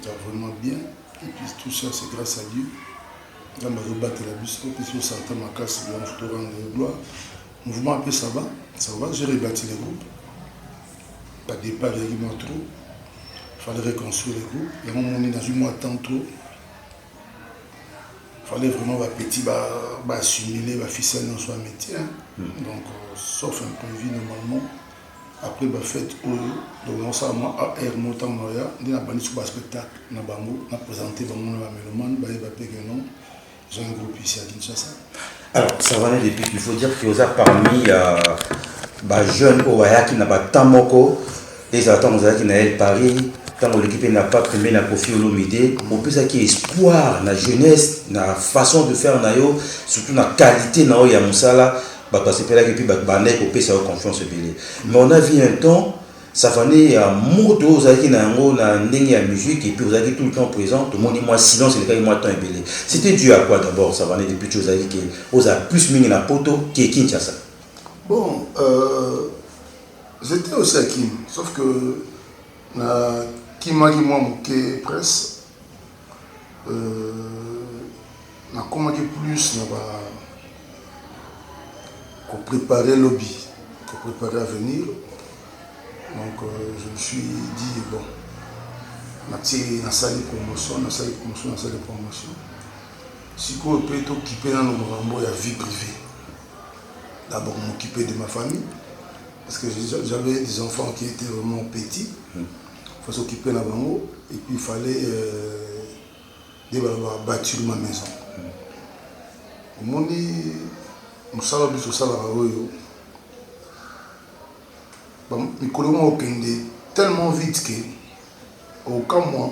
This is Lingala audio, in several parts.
eza vraiment bien et puis tout ça c'est grâce à dieu nzambe azobatela biso mpesi osante makasi yango torande yo gloire mouvement ape ça va ça va j'ai rebâti le groupe pas départ eyaki mwa trop fallait reconstruire le groupe yango moni nazwi mwa temps trop fallait vraiment bapetit baassumile baficelle nyonso ya métier donc euh, sauf imprévu normalement Après ba fetes oyo donc nasala mwa AR moko ntango naya nde nabandisi ba spectacle na bango na presente bango na ba melomane bayeba mpe que non eza un groupe ici à Kinshasa. Alors Savane depuis il faut dire que oza parmi euh, ba jeunes oyo bayaki na ba temps moko ezala ntango ozalaki na El Paris ntango oleki mpe na pape mpe na kofi olomide opesaki espoir na jeunesse na façon de faire na yo surtout na qualité na oyo ya mosala Batu basepelaki puis ba bandaki ko pesa yo confiance ebele mais on a vu un temps Safane ya moto oyo ozalaki na yango na ndenge ya musique et puis ozalaki tout le temps present tomoni mwa silence elekaki mwa temps ebele c'etait due à quoi d'abord Safane depuis tu ozalaki ke ozala plus mingi na poto ke Kinshasa? Bon euh, j'etais aussi à Kin sauf que na kimaki mwa moke presse Euh, nakomaki plus na ba koprepare lobi koprepare avenir donc euh, je me suis dit bon natie nasali promotion nasali promotion nasali promotion sikoyo mpe tokipe nano makambo ya vie privée d'abord m'occuper de ma famille parce que j'avais des enfants qui étaient vraiment petits mm. faut s'occuper na bango et puis il fallait euh, de baloba bâtir ma maison omoni mosala biso osalaka oyo mikolo moko okende tellement vite que okamwa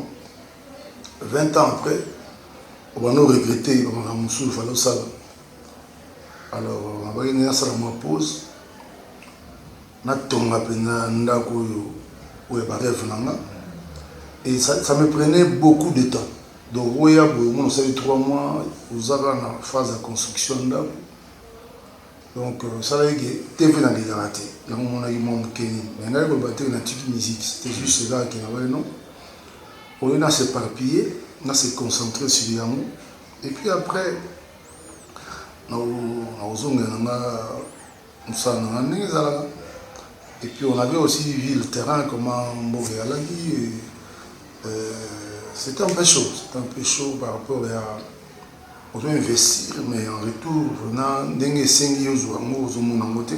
20 ans après obanda oregrete bamakambo mosusu fale osala alors nabaki nayasala mwa pause Natonga penza ndaku oyo oyo ya ba reve na nga et ça ça me prenait beaucoup de temps donc oya boye omona osali trois mois oza kaka na phase ya construction ya ndaku donc esalaki ke TV na lingaka te yango omonaki mwa moke nini mais ngai koloba te natiki musique c'était juste kaka ke nabali non au lieu na s'éparpiller na se concentrer sur yango et puis après nakozongela na nga Mosala na nga ndenge ezalaka et puis on avait aussi vu le terrain comment mboka ezalaki euh, c'était un peu chaud c'était un peu chaud par rapport ya ozo investir mais en retour na ndenge esengi ozwa yango ozomona yango te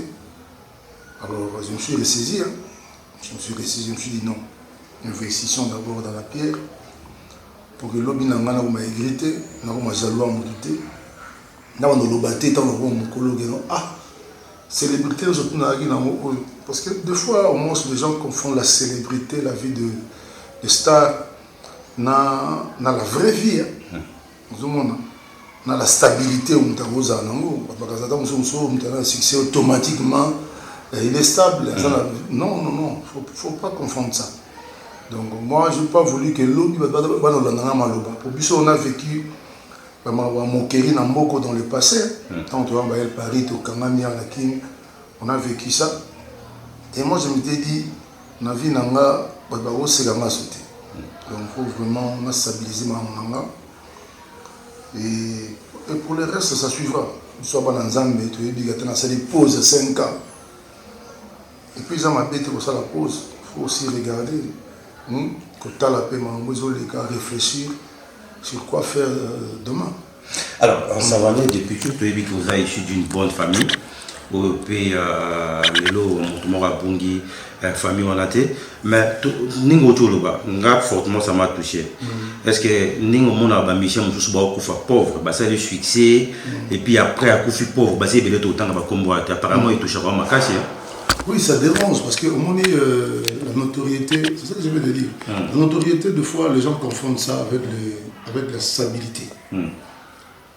alors je me suis ressaisi hein. je me suis ressaisi je me suis dit non investissons d'abord dans la pierre pour que lobi na ngai nakoma aigrité nakoma jaloux ya motu te Nga banda oloba te tango nakoma mukolo ke non ah celebrite nionso otunanaki nango oyo parce que de fois au moins les gens confondent la celebrite la vie de de star na na la vraie vie hein ozomona na la stabilite oyo moto akozala nango bato bakaza ata mosusu mosusu oyo moto aza na succès automatiquement il est stable aza na non non non faut, faut pas confondre ça donc moi j'ai pas voulu que lobi bato bana olanda nga maloba po biso on a vécu bamawa moquerie na mboko dans le passé ntango hmm. toyamba el paris tokangami ya na kin on a vécu ça et moi je m'étais dit na vie na nga bato bakoseka nga so te hmm. donc faut vraiment na stabilise makambo na nga et, et pour le reste ça suivra biso ya bana nzambe toyebi kata nasali pause 5 ans Et puis eza mabe te kosala pause, faut aussi regarder hum, kotala pe makambo ezoleka, réfléchir sur quoi faire euh, demain. Alors, en Savane, depuis tout, toyebi que vous avez issu d'une bonne famille. oyo mpe euh, lelo moto moko abungi euh, famille wana te mais ndenge oti oloba nga fortement ça m'a touché mm. est ce que ndenge omonaka bamisien mosusu baokufa pauvre basali succès mm. et puis après akufi pauvre basi ebele totanga bakombo ate apparemment mm. etouchaka bango makasi Oui, ça dérange parce que au moment euh, la notoriété, c'est ça que je veux te dire. Mm. La notoriété, de fois, les gens confondent ça avec, les, avec la stabilité. Mm.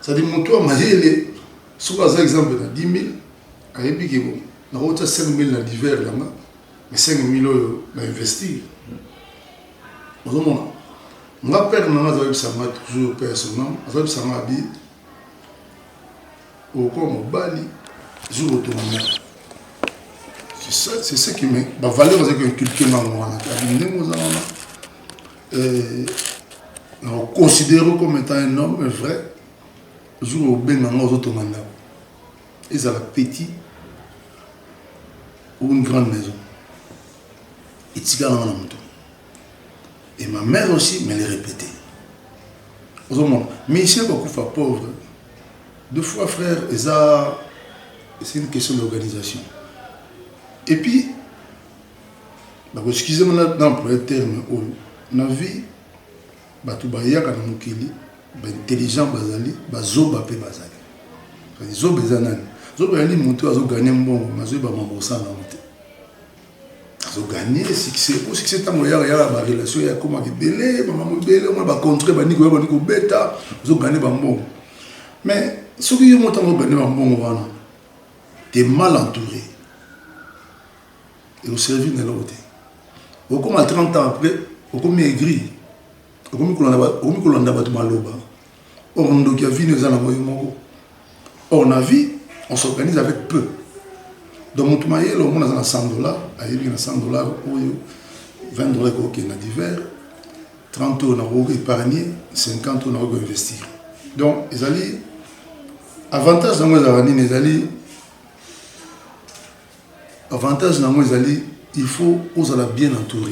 C'est à dire moto ya mayele soki aza exemple na 10000 ayebi ke bon nakotya 5000 na diver na nga mais 5000 oyo na investir ozomona nga père na nga azoyebisa nga toujours père son nom azoyebisa nga abi okokuwa mobali jour otonga ndako c'est ce qui me bavaleur azaki inculke ngango wana abi ndenge oza wana na considère yo comme étant un homme vrai jour obenga nga ozotonga ndako ezala petit ou une grande maison etikala nga na moto et ma mère aussi me le répétait ozomona michel bakufa pauvre deux fois frère eza c'est une question d'organisation et puis Bako excuse nga na employer terme oyo na vie batu bayaka na mokili ba intelligent bazali ba zoba pe bazali kasi zoba eza nani zoba ezali mutu azo gagne mbongo mais azoyeba makambo akosala nango te azo gagne succès po succès ntango eyaka yaka ba relation ya ekomaka ebele makambo ebele omona ba contrat bandi koya bandi kobeta ozo gagne bambongo mais soki yo motango ogagne bambongo wana te mal entouré eko servir na eloko te okoma 30 ans après okomi aigri okomi kolanda bato maloba or ndoki ya vino eza nango yo moko or na vie on s'organise avec peu donc moto mayele omona aza na 100 dollar ayebi na 100 dollar oyo 20 dollar ekokende na divers 30 oyo nakoki épargne 50 oyo nakoki koinvestir donc ezali avantage yango ezalaka nini ezali Avantage nango ezali il faut ozala bien entoure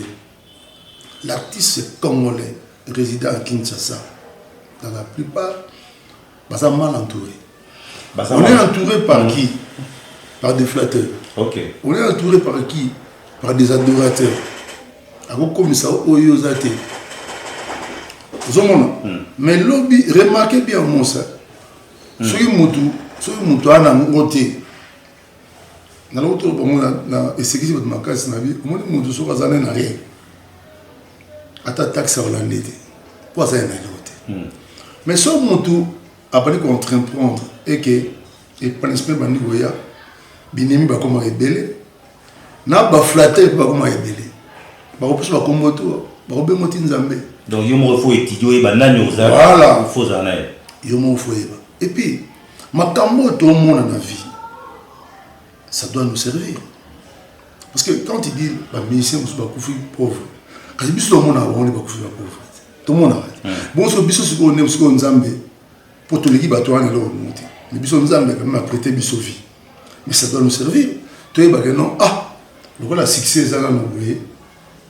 l'artiste congolais resident à Kinshasa dans la plupart baza mal entouré on est entouré par mm. qui par des flatteurs okay. on est entouré par qui par des adorateurs akokomisa oyo oza te ozomona mm. mais lobi remarquez bien mosa mm. soki motu soki motu ana ngo te nalobi tolo bango na esekisi bato makasi na bi omoni moto soki aza nde na rien ata taxe akolande te mpo aza ya na eloko te hmm. mais soki moto abandi koentremprendre eke epanisi mpe bandi koya binemi bakomaka ebele na baflater mpe bakomaka ebele bakopesa bakombo to bakobengo ti nzambe donc yo moko fo etidi oyeba nani oza fo ozala na ye yo moko fo oyeba epuis Makambo oyo tomona na vie, ça doit nous servir. Parce que quand il dit ba musiciens mosusu bakufi pauvre, kasi biso tomonaka bango nde bakufi ba pauvre te. Tomonaka te. Bongo soki biso sikoyo nde sikoyo Nzambe mpo toleki bato wana eloko moko te. Mais biso Nzambe quand même a prêté biso vie. Mais ça doit nous servir. Toyeba que non, ah, lokola succès eza nano boye,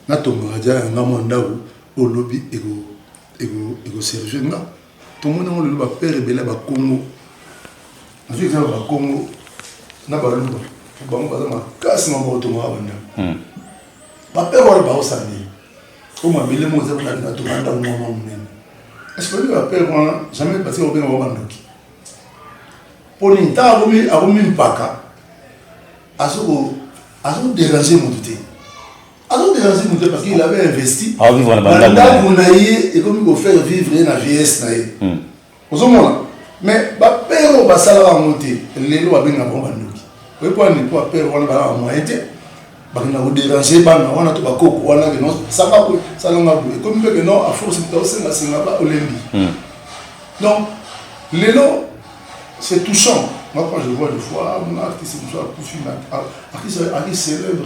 natongaka ja ya nga mwa ndako oyo lobi ekoservir nga. Tomoni yango lelo ba père ebele ya ba Kongo. Nazwi exemple ya ba Kongo na Baluba. Bango baza makasi maboko tongaka bandako. Ba père wana baosala nini? Oyo mabele moko eza kuna na tonga ndako moko mwa monene. Est-ce que ba père wana jamais batika kobenga bango bandoki? Mpo nini? Ntango akomi akomi mpaka azo ko azo déranger moto te. azo déranger moto te parce qu'il avait investi Ah, vivre na na bandako na ndako na ye ekomi kofaire vivre ye na vieillesse na ye Hmm. ozomona mais bapere oyo basalaka yango te lelo babengaka bango bandoki oyebi mpo nini mpo bapere wana balaka moyen te bakenda koderange bana wana to bakoko wana keno sanga boye salanga boye ekomi mpe keno aforce moto aosengasenga ba olembi Hmm. donc lelo c'est touchant moi quand je vois des fois mona artiste mosusu akufi mais artiste aki célèbre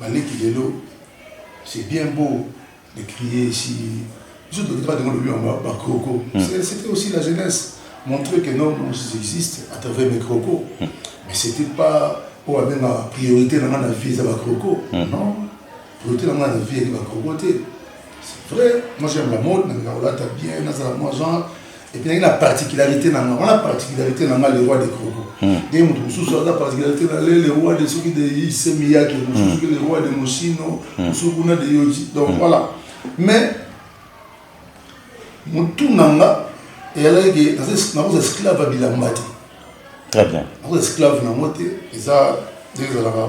Ba leki lelo c'est bien beau de crier ici biso tokita ba demande biwa ba ba croco c'était aussi la jeunesse montrer que non nous existe à travers mes croco mais c'était pas oyo abenga priorité na nga na vie eza ba croco non priorité na nga na vie eza ba croco te c'est vrai moi j'aime la mode na nga olata bien na za moi genre epinaki na particularité na nga wana particularité na nga le roi de croco hmm. nde moto mosusu aza particularité na le le roi de soki de ise miyake mosusu soki le roi de mosino hmm. mosusu kuna de yoji donc hmm. voilà mais motu na nga eyalaki ke nakoza esclave ya bilamba te très bien nakoza esclave na yango te eza nde ezalaka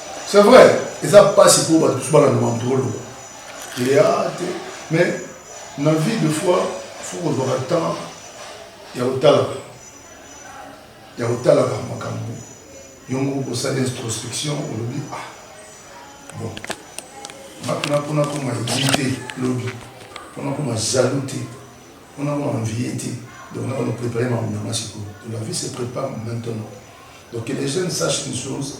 C'est vrai, eza pasi pour bato mosusu balanda makambo tokoloba eya te mais na vie de fois fo kozwaka temps ya kotalaka ya kotalaka makambo yongo kosala introspection olobi ah bon makina mpona koma egi te lobi mpona koma jaloux te mpona koma envie te donc na kono préparer makambo na nga sikoyo la vie se prépare maintenant donc que les jeunes sachent une chose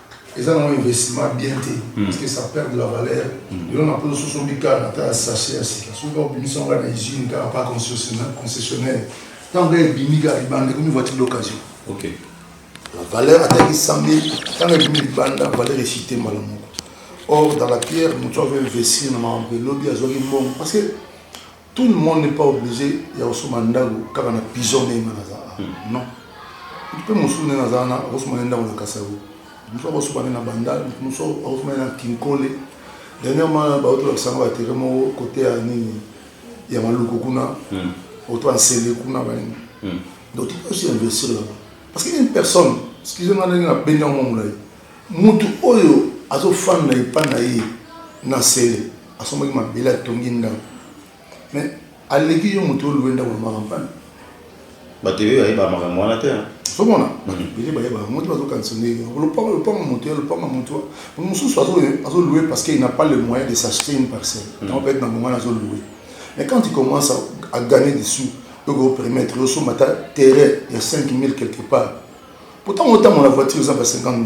eza nango investissement bien te hmm. parce que ça perd de la valeur hmm. lelo na poto soso bikala ata ya sachet ya sika soki kaka obimisi yango na usine kaka pa concessionnaire ntango ebimi kaka libanda ekomi voiture d'occasion la valeur ataki sambe ntango ebimi libanda valeur esite mbala moko or dans la pierre moto avo investir na makambo elobi azwaki mbongo parce que Tout le monde n'est pas oblige ya kosomba ndako kaka na pigeon ndenge nga naza awa non mutu mpe mosusu ndenge aza wana akosomba nde ndako na kasavu mosusu akosomba nde na bandal motu mosusu akosomba nde na kinkole dernièrement bauti kolakisa nga batere moko kote ya nini ya maluku kuna oto ya nsele kuna banini donc tu peux aussi investir là parce que une personne excuse nga ndenge nabendi yango mwa molai mutu oyo azofanda epai na ye na nsele asombaki mabele atongi ndako mais aleki yo moto olue ndako na makampani bato ebele bayeba makambo wana te somona bato ebele bayeba yango te bazokanisa ndenge lopango lopango moto ya lopango moto mosusu azolue parce qu'il n'a pas le moyen de s'acheter une parcelle hmm. yango peut-être na bongo wana azolue mais quand il commence à gagner des sous oko permettre osomba ta terrain ya 5000 quelque part pourtant otambola voiture eza ba 50 000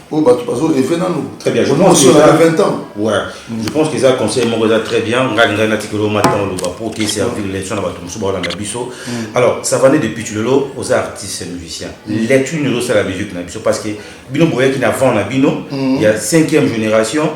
oyo bato bazo reve nanu très bien je pense que ça 20 ans ouais je pense que ça conseil moko eza très bien ngai lingai na tikelo matin loba pour te servir l'élection na bato mosusu baolanda biso mm. alors ça va de pitch lelo aux artistes musiciens mm. lecture nous ça la musique na biso parce que bino boyaki na vent na bino mm. il y a 5e génération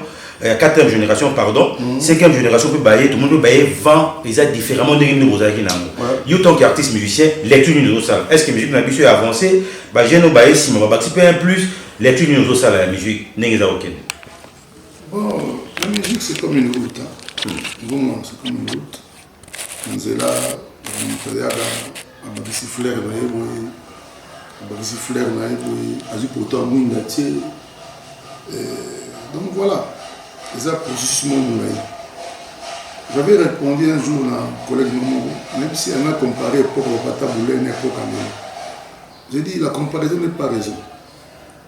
ya 4e génération pardon 5e génération mpe baye tomoni mpe baye vent eza différemment ndenge nini bozalaki na yango yo tant que artiste musicien lecture nini ozosala est ce que musique na biso ya avancé bajeune oyo baye nsima babakisi mpe un plus lecture nini ozosala ya musique ndenge eza kokende bon la musique c'est comme une route hein. Hmm. Bon, c'est comme une route Na nzela moto ayaka abakisi flair na ye boye abakisi flair na ye boye azwi poto ya mwinda tie donc voilà eza processus moko molai j'avais répondu un jour na collègue no moko même si anga compare epoque bapata boulai na epoque angela je dis la comparaison n'est pas raison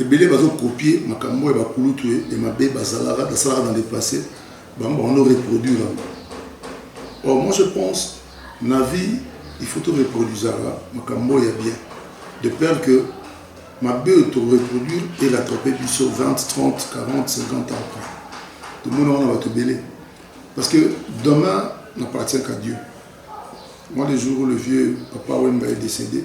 Ebele bazo copier makambo ya ba kulutu ya mabe bazalaka basalaka dans le passe bango bako no reproduire yango. Or moi je pense na vie il faut to reproduisaka makambo ya bien de peur que mabe oyo to reproduire e rattraper biso 20, 30, 40, 50 ans après. Tomona wana bato ebele parce que demain n'appartient qu'à Dieu. Moi le jour où le vieux papa Wemba est décédé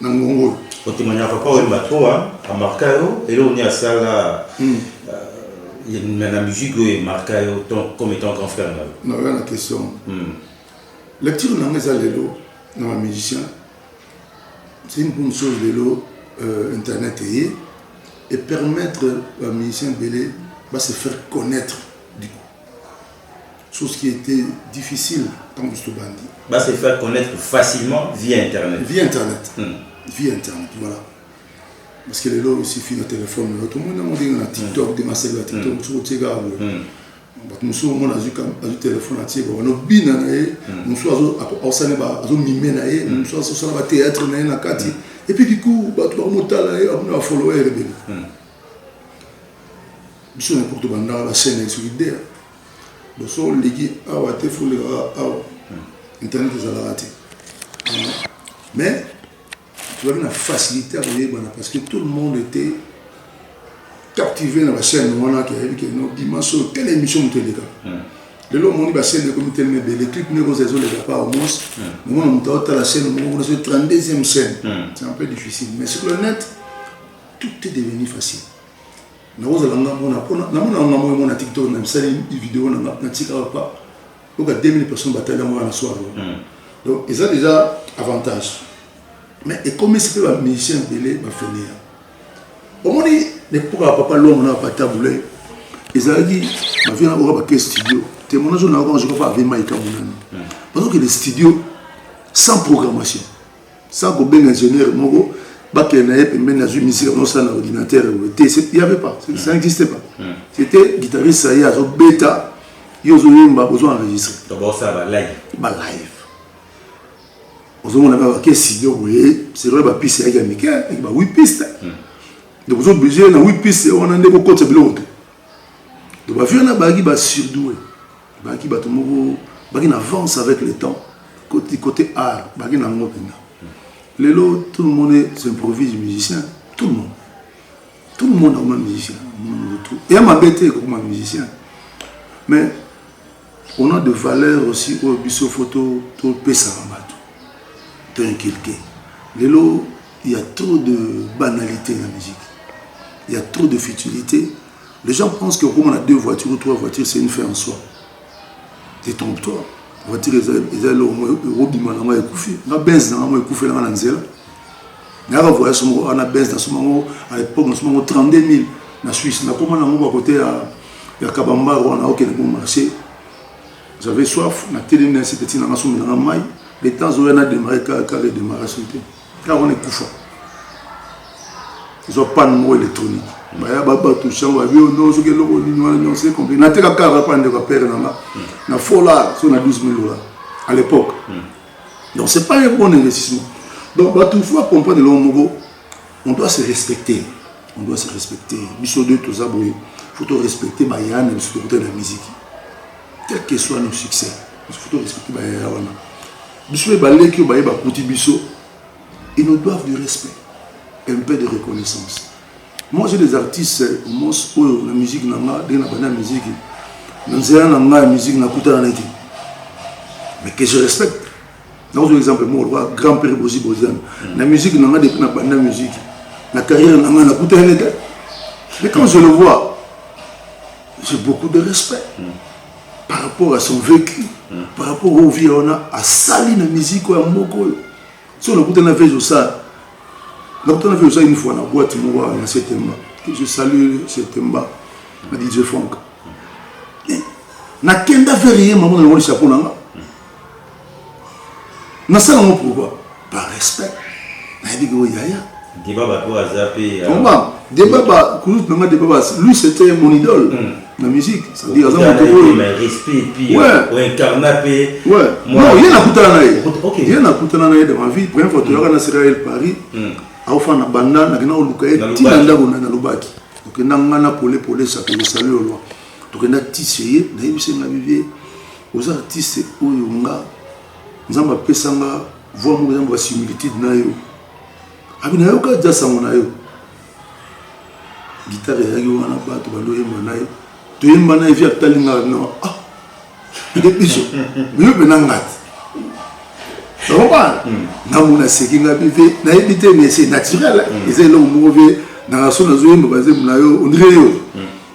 na ngongo oyo kotemanya papa oyemba trop amarka yo eloko nini asala hmm. euh, na musique oyo emarka yo comme étant grand frère na yo naoya na question hmm. lecture nanga eza lelo na bamusicien c'est une bonne chose lelo euh, internet eye et permettre bamusicien ebele ba se faire connaître Chose qui était difficile tant que Stobandi. Va se faire connaître facilement via Internet. Via Internet. Hmm. Via Internet, voilà. Parce que les lois aussi finissent au téléphone. Tout le monde a dit dans TikTok, dans ma cellule à TikTok, tout le monde a dit. bato mosusu omona azwi telefone atie babana obina na ye hmm. mosusu aosani azomime na ye hmm. mosusu azosala bateatre na ye na kati epuis kiku bato bakomotala ye amona bafolowere ebele biso na poto bandaka bachaine ya solidaire Donc soki oleki awa te fo oleka kaka awa internet ezalaka te mais tozalaki na facilité ya koyebana parce que tout le monde était captivé na bachaîne wana ke ayebi ke no dimanche oyo tele émission moto eleka lelo omoni bachaîne ekomi telema ebele clip nde ekozala ezoleka pa au moins omona moto aotala chaîne moko kuna soki 32e chaîne c'est un peu difficile mais sur le net tout est devenu facile Nakozala nga mona pona na mona nga moyo mona TikTok na misali video na na tika pa donc 2000 personnes batali yango na soir hmm. donc eza déjà avantage mais ekomisi mpe ba musicien ebele bafenia omoni nepoka papa lomo na papa tabule ezalaki bavia na oka bake studio témoignage na oka joka pa avema ekamonani hmm. bazokende studio sans programmation sans kobenga ingénieur moko bakende na ye pembeni azwi misika nosala na ordinateur boye te y avait pas ça hmm. n'existe pas hmm. c'était guitariste ça ye azobeta yo ozoyemba bozo enregistre balive ozomona kaka ke studio boye c'est vrai bapiste yaki ya mike yaki ba wi piste hmm. donc ozoblige na wi piste wana nde kokotisa biloko te donc bavieux na bayaki basurdoue Baki bato moko baki na avance avec le temps koti kote art baki na ngo pena lelo tout le monde s'improvise musicien tout le monde tout le monde akoma musicien mutu eya mabe te kokoma musicien mais on a de valeur aussi oyo biso fo topesaka bato to inculke lelo il y a trop de banalité na musique il y a trop de futilité Les gens pensent que comme on a deux voitures ou trois voitures, c'est une fin en soi. Détrompe-toi. Voiture, ils allaient au moins, Roby Manama et Koufi. Ma benz, Nanama et Koufi, Nanama Nanzela. Mais avant, voyage, on a benz, à l'époque, on a 32 000 na Suisse. On a comment on a côté à ya kabamba wana okende ko marché j'avais soif na telemi na sepeti na nga somi na nga mai le temps oyo na démarre kaka kaka démarration te Ntango wana ekufa ezwa panne moko électronique baya babatu sango ya bio no soki eloko nini wana nyonso ecompli nateka kaka bapa ndeko ya pere na nga na fola so na 12 000 dollars à l'époque donc c'est pas un bon investissement donc bato faut acomprendre eloko moko on doit se respecter on doit se respecter biso deux toza boye faut to respecter baya na biso tokuta na miziki quel que soit nos succès faut to respecter baya wana Biso mpe baleki oyo baye bakuti biso, ils nous doivent du respect et un peu de reconnaissance. Moi j'ai des artistes mos oyo na musique na nga ndenge na banda musique na nzela na nga ya musique nakutana na ete mais que je respecte nakozwa exemple moko lokola grand père bozi boziana na musique na nga depuis na banda musique na carrière na nga nakutana na ete mais quand je le vois j'ai beaucoup de respect mm. par rapport à son vécu mm. par rapport au vie wana asali na musique ya moko oyo so nakuta na vez osala nakuta na vez osala une fois na boîte moko na septembre que je salue septembre na dj frank nakenda vers ye mama na yango lisapo na nga nasala ngo pourquoi par respect nayebi ke oyo yaya debaba to aza mpe euh, debaba kulut nanga debaba lui c'était mon idole mm. na musique c'est-à-dire aza moto oyo non ye nakutana na ye ye nakutana na ye de ma vie première fois toyaka na serael paris mm. aofana banda nakenda koluka ye ntina ndako na nalobaki okenda nga na pole pole sakele sali olwa tokenda tise ye nayebisi nga bibie oza artiste oyo nga nzambe apesa nga voi moko eza basimilitude na yo abi nayoka ja sango na yo gitare eyaki wana bato baloyemba na ye toyemba na ye vi atali nga na ah nde biso miyo mpe na ngati okomana ntango naseki nga mpe mpe nayebi te mais c'est naturel eza eloko moko mpe na raso nazoyemba bazembo na yo ondire yo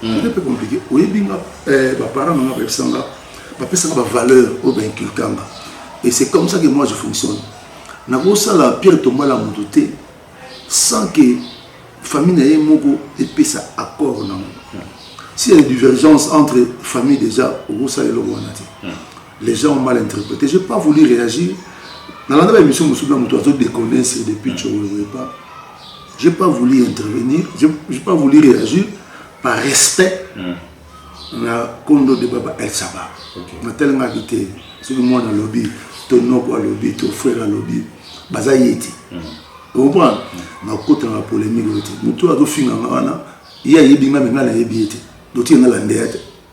C'était peu compliqué. Oyebi nga eh, ba parents na nga bayebisa nga bapesa nga ba valeur oyo ba inculque nga. Et c'est comme ça que moi je fonctionne. Nakosala Pierre Tombala moto te sans que famille na ye moko epesa accord nango. S'il y a des divergences entre famille déjà okosalela eloko wana te. Les gens ont mal interprété. Je n'ai pas voulu réagir. Dans la nouvelle émission, je me suis déconné, c'est depuis que je ne voulais pas. Je n'ai pas voulu intervenir, je n'ai pas voulu réagir par respect mm. na kondo de Baba El Saba. Okay. Na tellement habité, c'est le monde à lobby, ton nom à lobby, ton frère à lobby, Baza Yeti. Mm. Vous comprenez mm. Na kota na polémique, mutu azo finga wana, ya yebi nga menga na yebi yeti. Dotier na la ndeyate.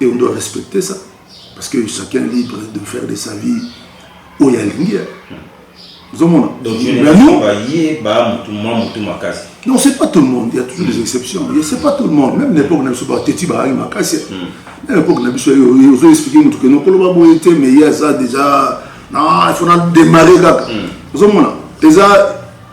et on doit respecter ça parce que chacun libre de faire de sa vie oyo alingi ozomona non c'est pas tout le monde il y a toujours des hmm. exceptions et c'est pas tout le monde même l'époque na biso bateti baangi makasi hmm. na époque na biso ozo expliquer motu keno koloba boye te mais ye aza déjà na il faut na démarrer kaka hmm. ozomona eza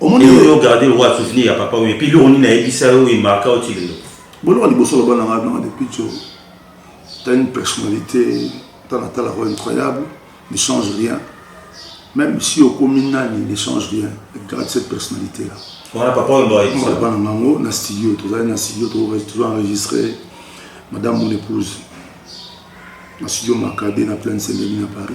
omoni yo yo garder le roi souvenir ya papa oui puis le on a dit ça oui marque au tilelo bon on liboso la bana ngana depuis tu as une personnalité dans la tala incroyable ne change rien même si au communal il ne change rien garde cette personnalité là voilà papa on doit dire bana ngana na studio tu as na studio tu as enregistré madame mon épouse na studio Macadé na pleine Saint-Denis à Paris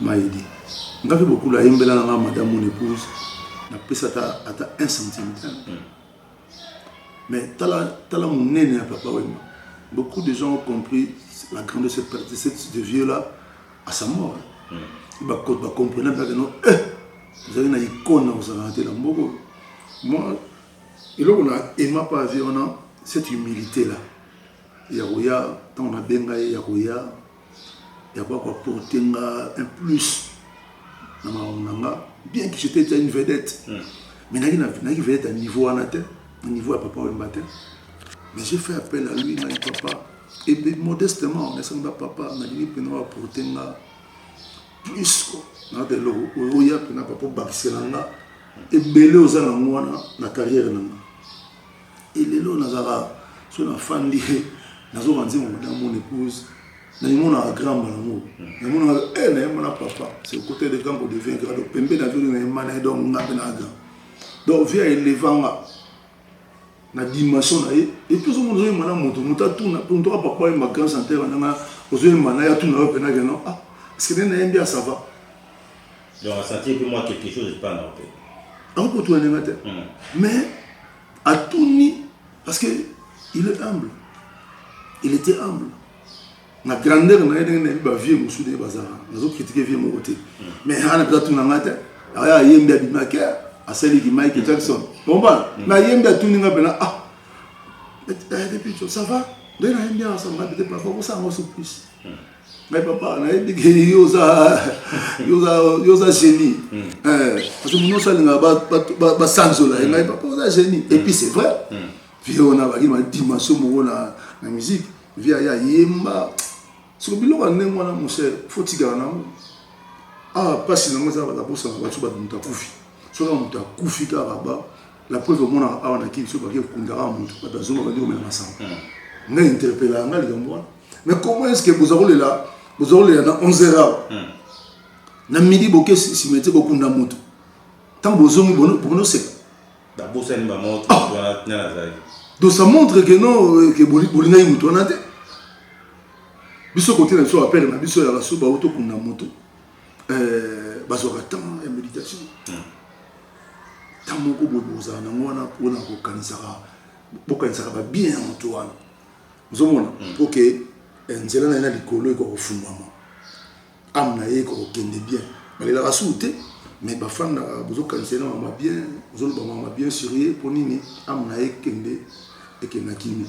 Mayele nga pe bokula ayembela na nga madame mon epouse na pesa ata ata 1 centime te mais tala tala munene ya papa wemba beaucoup de gens ont compris la grande de cette de cette de vieux là à sa mort mm. ba ba comprendre pas que non eh ozali na icône na kozalaka te na mboko moi eloko na ema pa vie wana cette humilité là ya koya ntango nabenga ye ya koya ya ko apporter nga un plus na makambo na nga bien que j'étais déjà une vedette hmm. mais naki naki vedette ya niveau wana te na niveau ya papa wemba te mais j'ai fait appel à lui ngai papa et puis modestement nasengi ba papa nalingi mpena wa apporter nga plus ko na de eloko oya mpena papa obakisela nga ebele oza nango wana na carrière na nga Et lelo nazaka so na fandi nazo banzi mo na mon épouse na yimo na grand malango na mon na eh na yimo na papa c'est le côté de grand ko devient grand donc pembe na venu na yimo na donc nga pe na grand donc via elevanga na dimension na ye et puis somo ozoyi mana moto moto atuna mpo ntoka papa ye ma grand chanteur nanga ozoyi mana ye atuna yo mpenake non ah est ce que nde nayembi asava Donc a sentir que moi quelque chose epa na ope. Ako kotuna nenga te. Hmm. Mais atuni parce que il est humble. Il était humble. Na grandeur na ye ndenge na yebi ba vieux mosusu ndenge bazala. Nazo critiquer vieux moko te. Hmm. Mais ana peza tuna nga te. Aya yembi abima ke asali ki Michael hmm. Jackson. Bomba. Na yembi atuni nga pena ah. Eh, depuis ça va? Ndenge na yembi asanga peut-être pas ko sanga surprise. Mais papa, nayebi ke yo oza yo oza yo oza génie. Hmm. Eh, parce que muno salinga ba ba ba sanzola, hmm. ngai papa oza génie. Et puis hmm. c'est vrai. Vieux on a ba ma dimension moko na na musique. Vieux ya yemba. Siko biloko ndenge wana mon cher, faut tigana nango. Ah, pasi nango eza ba bosa ba tuba muta kufi. Soka muta kufi ka ba La preuve omonaka awa na kin soki bake kundaka motu bato ya zomba bandi komela masanga hmm. ngai interpelaka ngai likambo wana mais comment est ce que boza kolela boza kolela na 11 heure awa hmm. na midi boke simete bokunda motu ntango bozongi bonoseka babosani bamoto ah! wana nani azali donc ça montre que non euh, que bolingaki motu wana te biso kote na biso bapere na biso ya basuba oyo tokunda motu Euh, bazwaka temps ya méditation ntango hmm. moko boye bokozala nango wana mpona kokanisaka bokanisaka babien ya moto wana ozomona hmm. po ke eh, nzela na ye na likolo ekoka kofungwama ame na ye ekoka kokende bien balelaka suu te mais bafandaka bozokanisa ye na mama bien ozoloba mama bien sur ye mpo nini ame na ye ekende ekenda kimia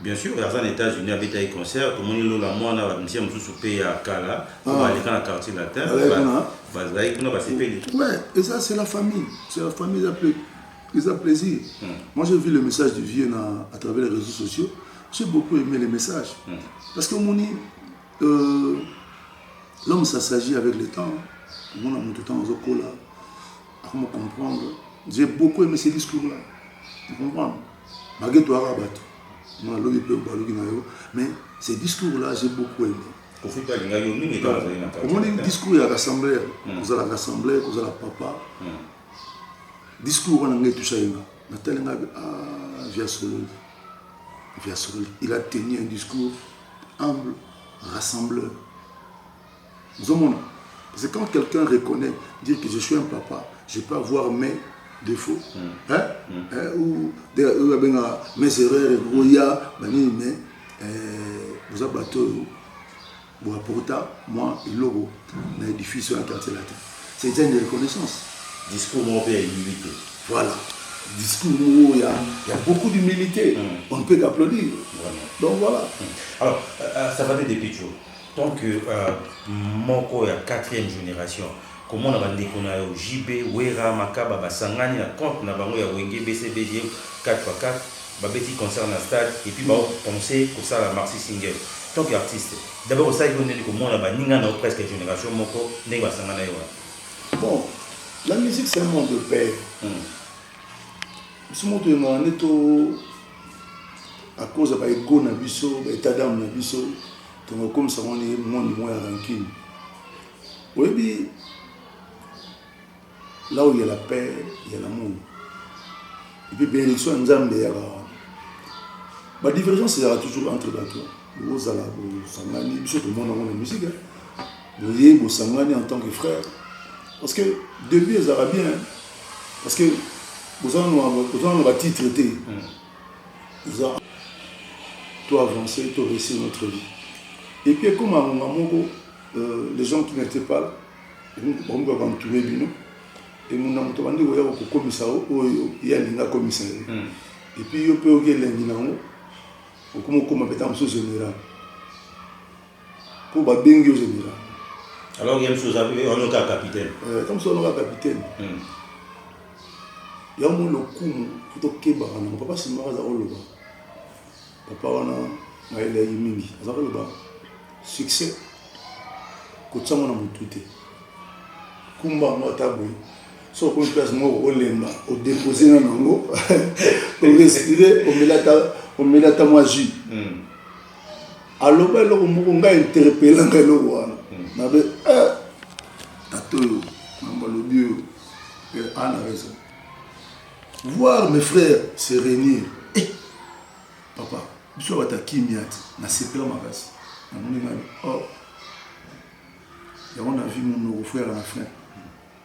Bien sur aza na etats unis abetaki concert tomoni lola muana ba musiciens mususu pe ya kala oyo baleka na quartier latin bazalaki kuna basepeli ouais eza c'est la famille c'est la famille eza pe eza plaisir moi j'ai vu le message du vieux na à travers les réseaux sociaux j'ai beaucoup aimé les messages parce que omoni euh, l'homme ça s'agit avec le temps omona moto ntango azokola Comment comprendre J'ai beaucoup aimé ces discours-là. Tu comprends Baguette ou arabato. Moi, l'homme peut balogi na yo. Mais ces discours-là, j'ai beaucoup aimé. omoni discours ya rassembleur hmm. kozala rassembleur kozala papa hmm. discours wana ngai etusa ye nga natali nga ah, via sololi via sololi il a tenu un discours humble rassembleur ozomona c'est quand quelqu'un reconnaît dire que je suis un papa je peux avoir mes défauts mm. hein? Mm. Hein? ou oyo abenga mes erreurs ekokoya banini mais boza bato oyo boaporta mwa eloko na édifice oyo ya quartier latin c'est eza une reconnaissance discours moko mpe ya humilité voilà discours moko ya ya beaucoup d'humilité mm. on ne peut qu'applaudir donc voilà mm. alors euh, euh, ça va depuis toujours Tant que euh, moko ya quatrième génération komona bandeko na yo JB Wera Makaba basangani na compte na bango ya Wenge BCBG 4x4 babeti concert na stade et puis bao penser kosala maxi single tant que artiste d'abord osali ko ndenge komona baninga na yo presque génération moko ndenge basangana yo wana Bon, la musique c'est un monde de paix. Hmm. biso moto yengaka nde to à cause ya baego na biso baétat d'âme na biso Tongo komisa ngo ni moni mo ya rancune. Oyebi là où il y a la paix, il y a l'amour. Et puis bénédiction ya Nzambe ya ba ba divergence ezalaka toujours entre bato bozala bosangani biso tomona yango na musike boye bosangani en tant que frère parce que début ezalaka bien parce que boza na batitre te eza to avancer to réussir notre vie et puis ekoma ngonga moko euh, les gens qui n'étaient pas là bakomi kaka ntube bino emona moto bandi koya kokomisa yo oyo ye alingi akomisa yo hmm. epuis yo mpe oki elengi na yango okomi okoma mpe ntango mosusu général po ba bengi yo general alors que msu oza ono kaka capitaine eh comme ça ono kaka capitaine hmm. ya mo lokumu kuto keba kana papa simba aza oloba papa wana na eleki mingi aza koloba succès kotia ngo na motu te kumba yango ata boye so okomi place moko olemba odepose na nango orespire omela ata mwa jus hmm. aloba eloko moko ngai interpelanga eloko wana nabe eh, tata oyo mambo alobi oyo eh, ana raison voir mes frères se réunir eh, papa biso bata kimia ti nasepela makasi namoni ngai oh yango na vie munoko frère na fin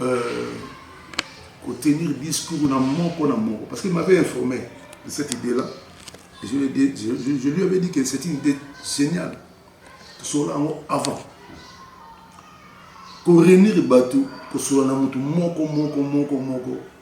Euh, tenir discours na moko na moko parce qu'il m'avait informé de cette idée là et je, dit, je, je, je lui avais dit que c'est une idée géniale tosola yango avant korenir bato kosola na moto moko moko moko moko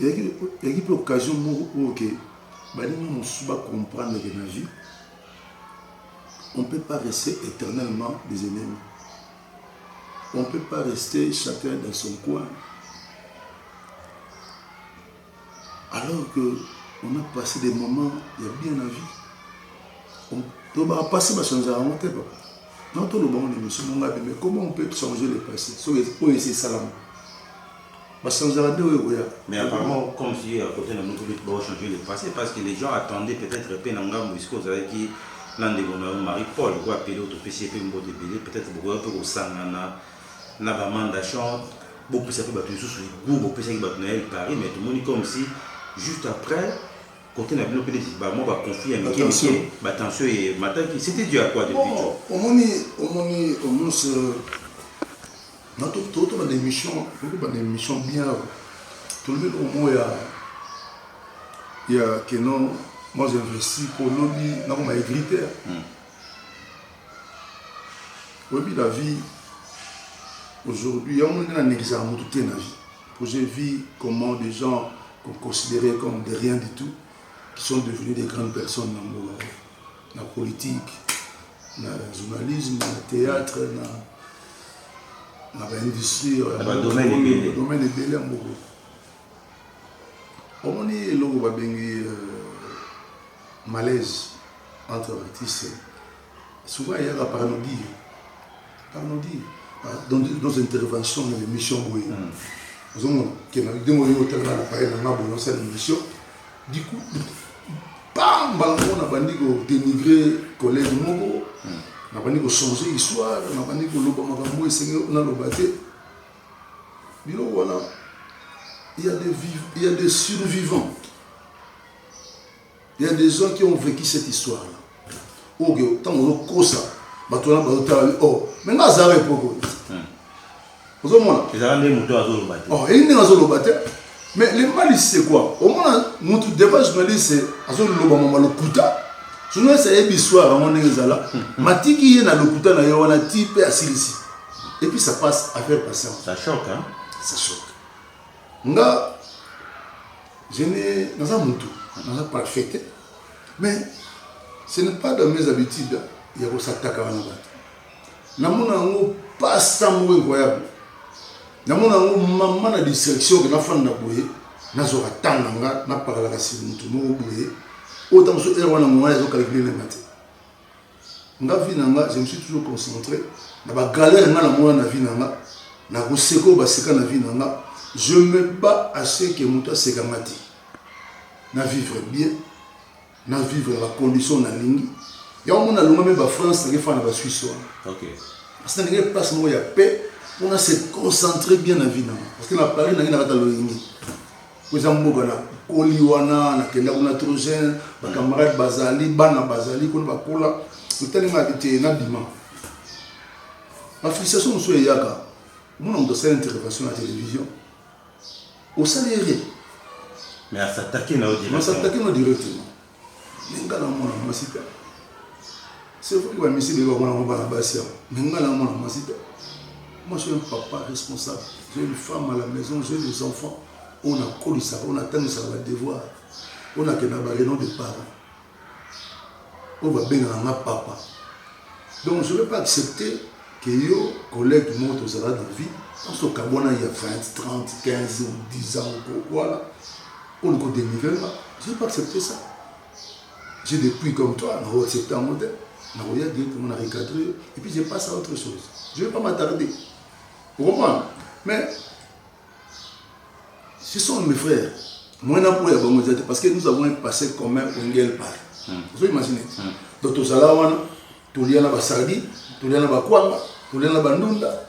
eyaki mpe occasion moko oyo ke baninga mosusu bacomprendre ke na vie on peut pas rester éternellement des ennemis on peut pas rester chacun dans son coin alors que on a passé des moments ya bien na vie tobaka passé bachange yango te papa non tolobango na émission mongabe mais comment on peut changer le passé soki oyo esi esalama Basanza la deux oyo koya. Mais apparemment comme si à côté na mutu peut ba changer le passé parce que les gens attendaient peut-être pe na ngambo ici aux avec na ndeko na Marie Paul quoi pe l'autre pe c'est pe mbote belé peut-être bokoya pe kosangana na ba manda chant bopesa pe bato lisusu goût bopesaki bato na ye Paris mais tomoni comme si juste après côté na bino pe neti bamwa baconflit ya mike mike batension ye mataki c'était dû à quoi depuis omoni omoni omonse na to to ba émission to ba émission bien to le au moins ya ya que non moi j'ai investi pour lobby na ko ma égrité hmm. oui la vie aujourd'hui ya mon na n'existe mutu te na vie pour j'ai vu comment des gens qu'on considérait comme de rien du tout qui sont devenus des grandes personnes dans le monde na politique na journalisme na théâtre na na ba industrie na ba domaine ebele domaine ebele ya moko omoni eloko babengi euh, malaise entre artiste souvent ayaka par nobile Tanodi, dans nos interventions na l'émission boye. Ozomona ke na ndenge oyo otalaka na paye na nga boye osala émission. Du coup, bam mbala moko nabandi ko dénigrer collègue moko. Nabandi ko changer histoire, nabandi koloba makambo esengeli naloba te. Biloko wana il y a des vivants, il y a des survivants. Il ya des gens qui ont vécu cette histoire là oyo oh, ntango ozokosa bato wana bazotala o oh, me nga azala epoko hmm. ozomona ezala nde moto azoloba te oh, eyi ndenge azoloba te mais le mal c'est quoi omona motu devant journaliste azoloba mama lokuta journaliste ayebi histoire yango ndenge ezala hmm. matiki ye na lokuta na ye wana ti mpe asilisi et puis ça passe affaire patience ça choque hein? ça choque Nga, je n'ai, naza mutu, naza parfait te, mais ce n'est pas dans mes habitudes ya kosatakana na bato. Namona yango pasa moko incroyable, namona yango mama na distraction ke nafanda boye nazwaka ntango na nga napakalaka si motu moko boye oyo ntango mosusu heure wana mongana ezokalkile na nga te Nga vie na nga je me suis toujours concentre na ba galère nga na mona na vie na nga na ko seka oyo ba seka na vie na nga je me bats à ce que mutu aseka nga te na vivre bien na vivre na ba condition na lingi yango mona longa me ba France na ke fana ba Suisse wana okay parce que ndenge place moko ya paix on a se concentrer bien na vie na nga parce que na Paris na ke na kata loyenge po eza mboka na koli wana na kenda kuna trop jeune ba camarades bazali bana bazali kuna bakola motali ma te na bima ba frustration mosusu eyaka omona moto asala intervention na télévision osali ere mais asatake na yo directement Mais nga na mwana mwasi te. C'est vrai que ba misi beba mwana mwa bana basi awa. Mais nga na mwana mwasi te. Moi je suis un papa responsable. J'ai une femme à la maison, j'ai des enfants. On a collé ça, on a tenu ça va devoir. On a que na ba réunion de parents. On va bien na papa. Donc je ne vais pas accepter que yo collègue du monde aux arabes de vie, on se cabona il y a 20, 30, 15 ou 10 ans ou quoi là. Oluka o denigrer nga, je n'ai pas accepte ça. J'ai des puits comme toi, na o accepte yango te. Na koya directement na recadrer yo et puis je passe à autre chose. Je ne vais pas m'attarder. Vous comprenez? Mais ce sont mes frères. Moi, na boya bango te parce que nous avons un passé commun au Ngel Park. Vous imaginez? Donc tozala wana, tolia na basardi, tolia na bakwanga, tolia na bandunda,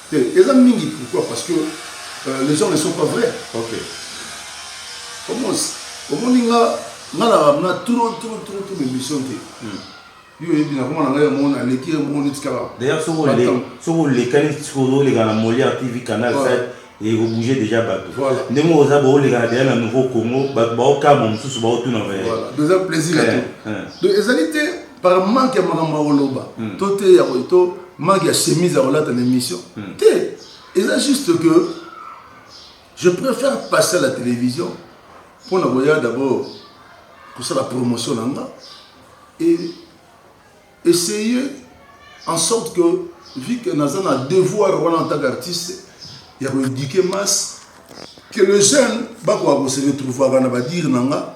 Te eza mingi pourquoi parce que euh, les gens ne sont pas vrais. OK. Omos omoni nga nga na na trop trop trop trop émission te. Hmm. Yo yebi na koma na ngai mon aleki mon itikala. D'ailleurs soko le soko le kali soko le kana Molière TV canal 7 et ko bouger déjà bato. Voilà. Ndenge oza bo le kana déjà na nouveau Congo bato ba okama mosusu ba otuna. Voilà. Déjà plaisir à toi. Donc ezali te par manque ya makambo ya koloba hmm. to te ya to manque ya chemise ya kolata na émission hmm. te eza juste que je préfère passer à la télévision mpo na koya d'abord kosala promotion na nga et essayer en sorte que vu que naza na devoir wana en tant qu'artiste ya koéduquer masse que le jeune bakoka kose retrouvaka na badire na nga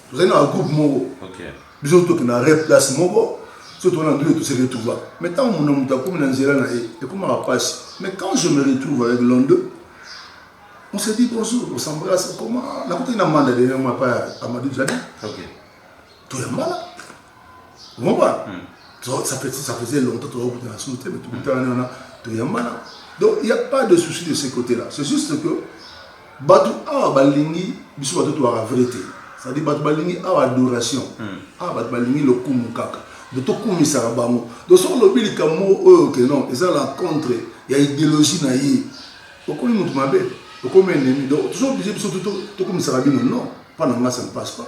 tozali na bagroupe moko biso tokenda re place moko so tokona ndule tose retrouva mais ntango mona moto akomi na nzela na ye ekomaka mpasi mais quand je me retrouve avec londe on se dit bonjour on s'embrasse comment nakotaki na manda dernièrement pa amadou jadi toyambala Comprends? Hmm. Ça fait ça faisait longtemps que tu as sauté, mais tu as tu es Donc il n'y a pas de souci de ce côté-là. C'est juste que batu awa balingi biso batu to la vérité. C'est-à-dire batu balingi awa adoration. Hmm. Awa batu balingi lokumu kaka. De to kumisa bango. Donc sur le bil comme oh que non, ils ont la contre, il y a idéologie na yi. Okomi mutu mabe, okomi ennemi. Donc toujours obligé biso to to kumisa bino non, pas na ça ne passe pas.